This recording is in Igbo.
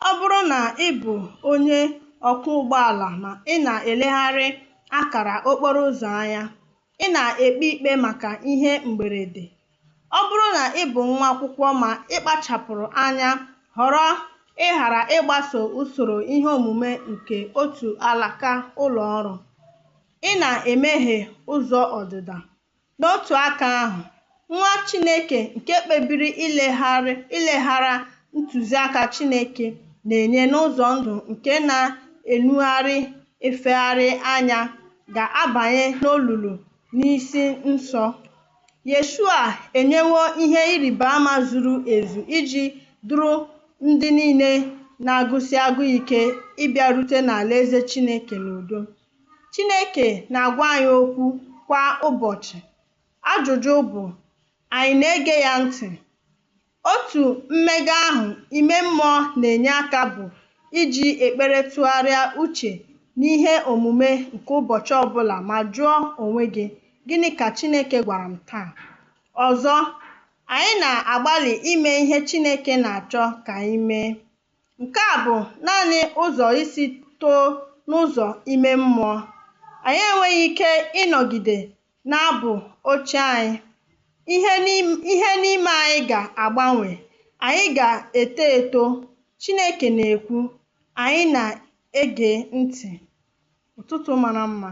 Ọ bụrụ na ị bụ onye ọkwọ ụgbọala ma ị na-elegharị akara okporo ụzọ anya, ị na-ekpe ikpe maka ihe mberede. Ọ bụrụ na ị bụ nwa akwụkwọ ma ị kpachapụrụ anya họrọ ịghara ịgbaso usoro ihe omume nke otu alaka ụlọ ọrụ, ị na-emeghe ụzọ ọdịda. N'otu aka ahụ, nwa Chineke nke kpebiri ileghara ntụziaka Chineke na-enye n'ụzọ ndụ nke na-enugharị efegharị anya ga-abanye n'olulu n'isi nso. Yeshua enyewo ihe ịrịba ama zuru ezu iji duru ndị niile na-agụsi agụụ ike ịbịarute n'Alaeze Chineke n'udo. Chineke na-agwa anyị okwu kwa ụbọchị. Ajụjụ bụ, anyị na-ege ya ntị? Otu mmega ahụ ime mmụọ na-enye aka bụ iji ekpere tụgharịa uche n'ihe omume nke ụbọchị ọ bụla ma jụọ onwe gị, Gịnị ka Chineke gwara m taa? Ọzọ, anyị na-agbalị ime ihe Chineke na-achọ ka anyị mee. Nke a bụ naanị ụzọ isi too n'ụzọ ime mmụọ. Anyị enweghị ike ịnọgide na-abụ ochie anyị. Ihe n'ime anyị ga-agbanwe. Anyị ga-eto eto. Chineke na-ekwu, anyị na-ege ntị. Ụtụtụ mara mma.